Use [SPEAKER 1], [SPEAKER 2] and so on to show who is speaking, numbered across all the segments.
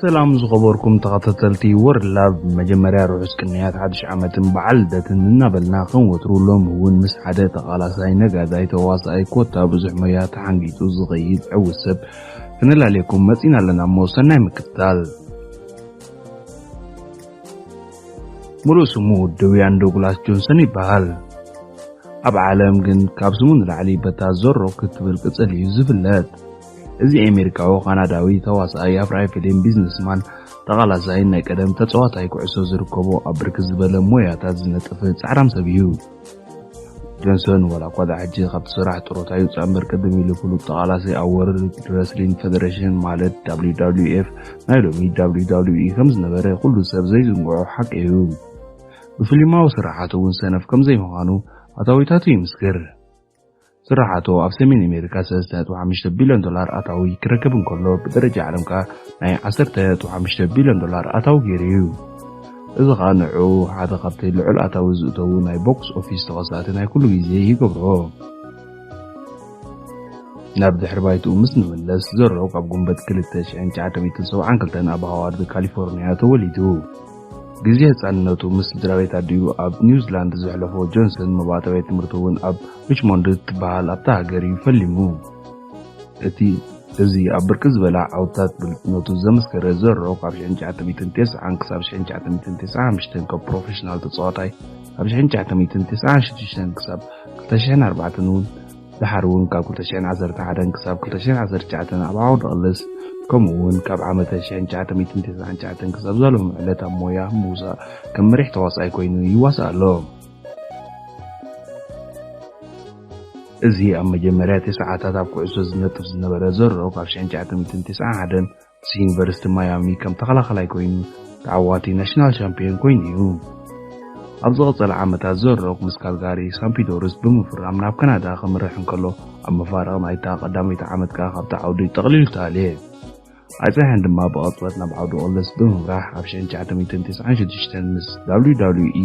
[SPEAKER 1] ሰላም ዝኸበርኩም ተኸታተልቲ ወርልድ ላቭ ብመጀመርያ ርሑስ ቅንያት ሓድሽ ዓመትን በዓል ልደትን እናበልና ከም ወትሩ ሎሚ እውን ምስ ሓደ ተቓላሳይ ነጋዳይ ተዋሳኣይ ኮታ ብዙሕ ሞያ ተሓንጊጡ ዝኸይድ ዕውት ሰብ ክነላልየኩም መጺና ኣለና እሞ ሰናይ ምክትታል ሙሉእ ስሙ ድውያን ዶግላስ ጆንሰን ይበሃል። ኣብ ዓለም ግን ካብ ስሙ ንላዕሊ በታ ዞሮ ክትብል ቅጽል እዩ ዝፍለጥ። እዚ ኣሜሪካዊ ካናዳዊ ተዋሳኣይ ኣብርኣይ ፊሊም ቢዝነስ ማን ተቓላሳይን ናይ ቀደም ተጸዋታይ ኩዕሶ ዝርከቦ ኣብ ብርክት ዝበለ ሞያታት ዝነጥፍ ጻዕራም ሰብ እዩ። ጆንሶን ዋላ እኳ ዳኣ ሕጂ ካብቲ ስራሕ ጥሮታ ይውጻእ እምበር ቅድም ኢሉ ፍሉጥ ተቓላሳይ ኣብ ወርልድ ረስሊንግ ፈደረሽን ማለት WWF ናይ ሎሚ WWE ከም ዝነበረ ኩሉ ሰብ ዘይዝንግዖ ሓቂ እዩ። ብፍሊማዊ ስራሓቱ እውን ሰነፍ ከም ዘይምዃኑ ኣታዊታቱ ይምስክር። ስርሓቱ ኣብ ሰሜን ኣሜሪካ ሰለስተ ነጥቢ ሓሙሽተ ቢልዮን ዶላር ኣታዊ ክረክብ እንከሎ ብደረጃ ዓለም ከኣ ናይ ዓሰርተ ነጥቢ ሓሙሽተ ቢልዮን ዶላር ኣታዊ ገይሩ እዩ። እዚ ከኣ ንዕኡ ሓደ ካብቲ ልዑል ኣታዊ ዝእተዉ ናይ ቦክስ ኦፊስ ተኸሳእቲ ናይ ኩሉ ግዜ ይገብሮ። ናብ ድሕሪ ባይትኡ ምስ ንመለስ፣ ዘሮክ ኣብ ጉንበት ክልተ ሽሕን ትሽዓተ ሚእትን ሰብዓን ክልተን ኣብ ሃዋርድ ካሊፎርንያ ተወሊዱ። ግዜ ህጻንነቱ ምስ ስድራቤት ኣዲኡ ኣብ ኒውዚላንድ ዘሕለፎ ጆንሰን መባእታዊ ትምህርቱ እውን ኣብ ሪችሞንድ እትበሃል ኣብታ ሃገር እዩ ፈሊሙ። እቲ እዚ ኣብ ብርክት ዝበላ ዓውድታት ብሉጽነቱ ዘመስከረ ዘ ሮክ ኣብ ሽሕን ትሽዓተ ሚእትን ቴስዓን ክሳብ ሽሕን ትሽዓተ ሚእትን ቴስዓን ሓምሽተን ከም ፕሮፌሽናል ተጻዋታይ ኣብ ሽሕን ትሽዓተ ሚእትን ቴስዓን ሽዱሽተን ክሳብ ክልተ ሽሕን ኣርባዕተን እውን ደሓር እውን ካብ ክልተ ሽሕን ዓሰርተ ሓደን ክሳብ ክልተ ሽሕን ዓሰርተ ትሽዓተን ኣብ ዓውደ ቕልስ ከምኡ እውን ካብ ዓመተ ሽሕን ትሽዓተ ሚእትን ተሰዓን ትሽዓተን ክሳብ እዛ ሎሚ ዕለት ኣብ ሞያ ምውሳእ ከም መሪሕ ተዋሳኣይ ኮይኑ ይዋሳእ ኣሎ። እዚ ኣብ መጀመርያ ተስዓታት ኣብ ኩዕሶ ዝነጥፍ ዝነበረ ዘሮ ካብ ሽሕን ትሽዓተ ሚእትን ተስዓን ሓደን ምስ ዩኒቨርሲቲ ማያሚ ከም ተኸላኻላይ ኮይኑ ተዓዋቲ ናሽናል ሻምፕዮን ኮይኑ እዩ። ኣብ ዝቐጸለ ዓመታት ዘሮክ ምስ ካልጋሪ ሳምፒዶርስ ብምፍራም ናብ ካናዳ ከምርሕ እንከሎ ኣብ መፋርቕ ናይታ ቀዳመይቲ ዓመት ከኣ ካብቲ ዓውዲ ጠቕሊሉ ተኣልየ። ኣይጸንሐን ድማ ብቐጽበት ናብ ዓውዲ ኦልስ ብምምራሕ ኣብ ሽሕን ትሽዓተ ሚእትን ተስዓን ሽዱሽተን ምስ WWE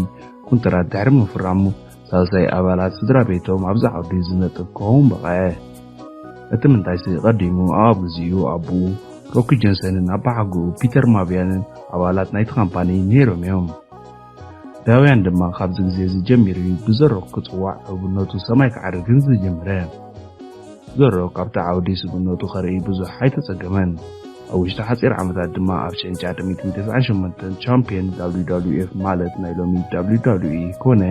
[SPEAKER 1] ኩንትራት ድሕሪ ምፍራሙ ሳልሳይ ኣባላት ስድራ ቤቶም ኣብዛ ዓዲ ዝነጥፍ ክኸውን በቐዐ። እቲ ምንታይሲ ቀዲሙ ኣብ ግዜኡ ኣቦኡ ሮኪ ጀንሰንን ኣባሓጎኡ ፒተር ማቪያንን ኣባላት ናይቲ ካምፓኒ ነይሮም እዮም። ዳውያን ድማ ካብዚ ግዜ እዚ ጀሚሩ እዩ ብዘ ሮክ ክጽዋዕ ሕቡነቱ ሰማይ ክዓርግን ዝጀመረ። ዘሮ ካብቲ ዓውዲ ስብእነቱ ከርኢ ብዙሕ ኣይተጸገመን። ኣብ ውሽጢ ሓጺር ዓመታት ድማ ኣብ ሸንጫ ጥምየት ሚእቲ ተስዓን ሸሞንተን ቻምፕዮን WWE ማለት ናይ ሎሚ WWE ኮነ።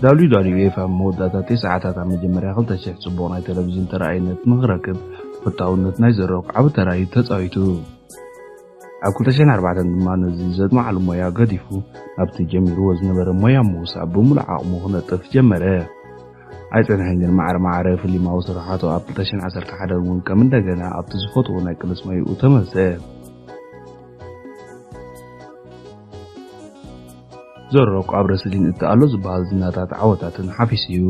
[SPEAKER 1] WWE ኣብ መወዳእታ ቴስዓታት ኣብ መጀመርያ ክልተ ሽሕ ጽቡቕ ናይ ተለቪዥን ተራኣይነት ንኽረክብ ተፈታውነት ናይ ዘ ሮክ ዓቢ ተራ እዩ ተጻዊቱ። ኣብ ክልተ ሽሕን ኣርባዕተን ድማ ነዚ ዘድማዓሉ ሞያ ገዲፉ ናብቲ ጀሚርዎ ዝነበረ ሞያ ምውሳእ ብምሉእ ዓቕሙ ክነጥፍ ጀመረ። ኣይጸንሐን ግን ማዕረ ማዕረ ፍሊማዊ ስርሓቱ ኣብ ክልተሽሕን ዓሰርተ ሓደን እውን ከም እንደገና ኣብቲ ዝፈትዎ ናይ ቅልጽ መይኡ ተመልሰ። ዘሮክ ኣብ ረስሊን እቲ ኣሎ ዝበሃል ዝናታት ዓወታትን ሓፊሱ እዩ።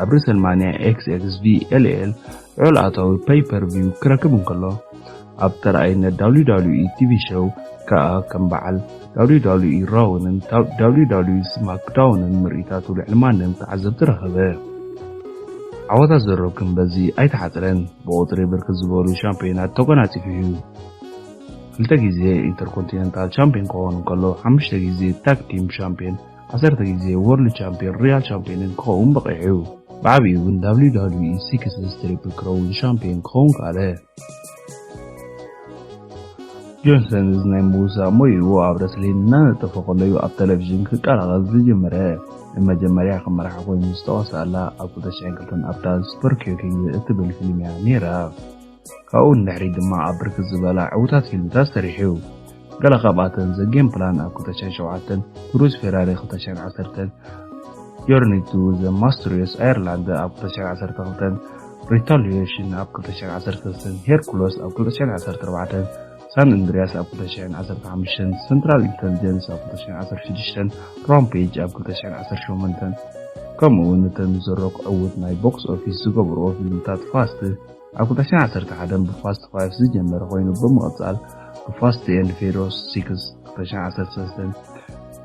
[SPEAKER 1] ኣብ ሬሰልማንያ ኤክስኤክስቪ ኤልኤል ልዑል ኣታዊ ፐይ-ፐር-ቪው ክረክብ እንከሎ፣ ኣብ ተራኣይነት ዳብሊው ዳብሊው ኢ ቲቪ ሸው ከኣ ከም በዓል ዳብሊው ዳብሊው ኢ ራውን ዳብሊው ዳብሊው ኢ ስማክዳውንን ምርኢታቱ ልዕሊ ማንም ተዓዘብቲ ረኸበ። ዓወታት ዘ ሮክ ግን በዚ ኣይተሓጽረን፣ ብቑጽሪ ብርክት ዝበሉ ሻምፕዮናት ተጎናጺፉ'ዩ። ክልተ ግዜ ኢንተርኮንቲነንታል ሻምፕዮን ክኸውን እንከሎ፣ ሓሙሽተ ግዜ ታግ ቲም ሻምፕዮን ዓሰርተ ግዜ ዎርልድ ቻምፕዮን ሪያል ቻምፕዮንን ክኸውን በቒዑ። ብዓቢኡ ግን WWE ሲክስስ ትሪፕል ክረውን ሻምፕዮን ክኸውን ከኣለ። ጆንሰን እዚ ናይ ምውሳእ ሞይኡ ኣብ ረስሊን እናነጠፈ ከሎ'ዩ ኣብ ተለቪዥን ክቀላቐል ዝጀመረ። ንመጀመርያ ከም መራሒ ኮይኑ ዝተዋስኣላ ኣብ 2002 ኣብ ዳላስ በርኪዩ ኪንግ እትብል ፊልም'ያ ነይራ። ካብኡ ንድሕሪት ድማ ኣብ ብርክት ዝበላ ዕውታት ፊልምታት ሰሪሑ እዩ። ገለ ካብኣተን ዘ ጌም ፕላን ኣብ 2007፣ ክሩዝ ፌራሪ 2010፣ ጆርኒ ቱ ዘ ማስትሪየስ ኣየርላንድ ኣብ 2012፣ ሪታሊዬሽን ኣብ 2013፣ ሄርኩሎስ ኣብ 2014፣ ሳን እንድሪያስ ኣብ 2015፣ ሰንትራል ኢንተልጀንስ ኣብ 2016፣ ራምፔጅ ኣብ 2018 ከምኡውን እተን ዘሮክ ዕውት ናይ ቦክስ ኦፊስ ዝገበርኦ ፊልምታት ፋስት ኣብ 2011 ብፋስት ፋይቭ ዝጀመረ ኮይኑ ብምቕጻል ብፋስት ኤንድ ፌሮስ ሲክስ 2013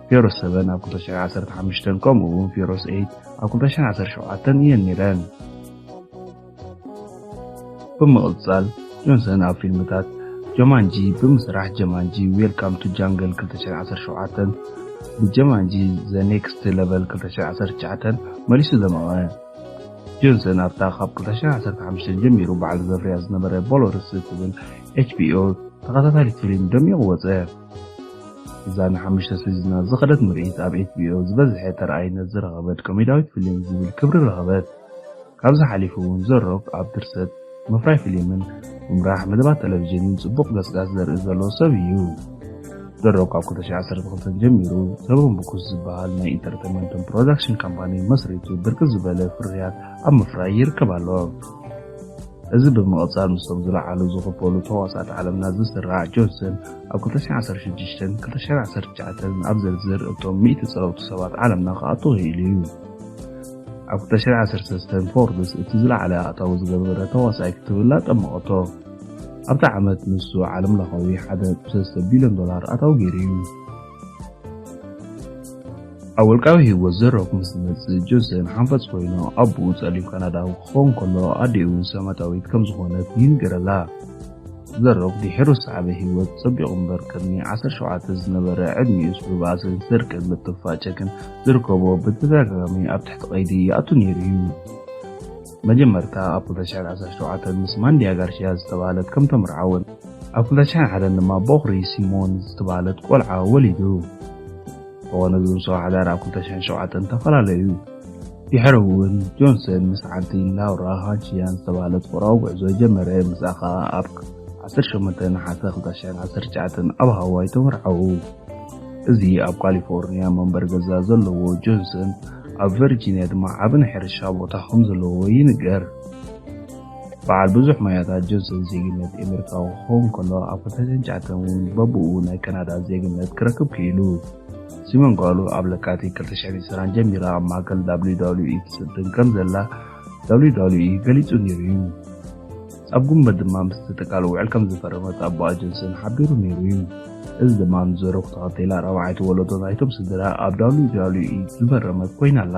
[SPEAKER 1] ፌሮስ ሰቨን ኣብ 2015 ከምኡ እውን ፌሮስ ኤይት ኣብ 2017 እየን ነይረን። ብምቕጻል ጆንሰን ኣብ ፊልምታት ጀማንጂ ብምስራሕ ጀማንጂ ዌልካም ቱ ጃንግል 2017 ብጀማንጂ ዘ ኔክስት ለቨል 2019 መሊሱ ዘመቐ ጆንሰን ኣብታ ካብ 2015 ጀሚሩ ባዕሉ ዘፍርያ ዝነበረ ቦሎርስ እትብል ኤችቢኦ ተኸታታሊት ፊልም ደሚቑ ወጸ። እዛ ንሓሙሽተ ሲዝናት ዝኸደት ምርኢት ኣብ ኤችቢኦ ዝበዝሐ ተራኣይነት ዝረኸበት ኮሜድያዊት ፊልም ዝብል ክብሪ ረኸበት። ካብዚ ሓሊፉ እውን ዘ ሮክ ኣብ ድርሰት፣ ምፍራይ ፊሊምን ምምራሕ መደባት ተለቪዥንን ጽቡቕ ገጽጋጽ ዘርኢ ዘለዎ ሰብ እዩ። ደሮ ካብ 2012 ጀሚሩ ሰበን ቡክስ ዝበሃል ናይ ኢንተርተመንትን ፕሮዳክሽን ካምፓኒ መስሪቱ ብርክት ዝበለ ፍርያት ኣብ ምፍራይ ይርከብ ኣሎ። እዚ ብምቕጻል ምስቶም ዝለዓሉ ዝኽፈሉ ተዋሳእቲ ዓለምና ዝስራዕ ጆንሰን ኣብ 2016ን 2019ን ኣብ ዝርዝር እቶም ሚእቲ ጸለውቲ ሰባት ዓለምና ክኣቱ ክኢሉ እዩ። ኣብ 2013 ፎርብስ እቲ ዝለዓለ ኣእታዊ ዝገበረ ተዋሳኣይ ክትብላ ጠመቐቶ። ኣብቲ ዓመት ንሱ ዓለም ለኻዊ 1.3 ቢልዮን ዶላር ኣታዊ ገይሩ እዩ። ኣብ ውልቃዊ ህይወት ዘሮክ ምስ ዝመጽእ ጆንሰን ሓንፈጽ ኮይኑ ኣቡኡ ጸሊም ካናዳዊ ክኸውን ከሎ ኣዲኡ እውን ሰማታዊት ከም ዝኾነት ይንገረላ። ዘሮክ ድሒሩ ዝሰዓበ ህይወት ጸቢቑ እምበር ቅድሚ ዓሰርተ ሸውዓተ ዝነበረ ዕድሚኡስ ብባእስን ስርቅን ምጥፍፋጨክን ዝርከቦ ብተደጋጋሚ ኣብ ትሕቲ ቀይዲ ይኣቱ ነይሩ እዩ። መጀመርታ ኣብ ክልተ ሽሕን ዓሰርተ ሸውዓተን ምስ ማንድያ ጋርሽያ ዝተባህለት ከም ተመርዓወን ኣብ ክልተ ሽሕን ሓደን ድማ ቦኽሪ ሲሞን ዝተባህለት ቆልዓ ወሊዱ። እንተኾነ እዚ ውሳዊ ሓዳር ኣብ ክልተ ሽሕን ሸውዓተን ተፈላለዩ። ድሕሪ እውን ጆንሰን ምስ ሓንቲ ላውራ ሃንቺያን ዝተባህለት ፍቕራዊ ጉዕዞ ጀመረ፣ ምስኣ ከኣ ኣብ ዓሰርተ ሸሞንተ ነሓሰ ክልተ ሽሕን ዓሰርተ ትሽዓተን ኣብ ሃዋይ ተመርዓዉ። እዚ ኣብ ካሊፎርንያ መንበሪ ገዛ ዘለዎ ጆንሰን፣ ኣብ ቨርጂንያ ድማ ዓቢ ናይ ሕርሻ ቦታ ከም ዘለዎ ይንገር። በዓል ብዙሕ ሞያታት ጆንሰን ዜግነት ኤሜሪካዊ ክኸውን ከሎ ኣብ 2009 እውን በብኡ ናይ ካናዳ ዜግነት ክረክብ ክኢሉ። ሲሞን ጓሉ ኣብ ለካቲት 2020 ጀሚራ ኣብ ማእከል WWE ትስልጥን ከም ዘላ WWE ገሊጹ ነይሩ እዩ። ኣብ ጉንበት ድማ ምስ ተጠቃለ ውዕል ከም ዝፈረመት ኣቦኣ ጆንሰን ሓቢሩ ነይሩ እዩ። እዚ ድማ ንዘረኩ ተኸቲላ ራብዓይቲ ወለዶ ናይቶም ስድራ ኣብ WWE ዝፈረመት ኮይና ኣላ።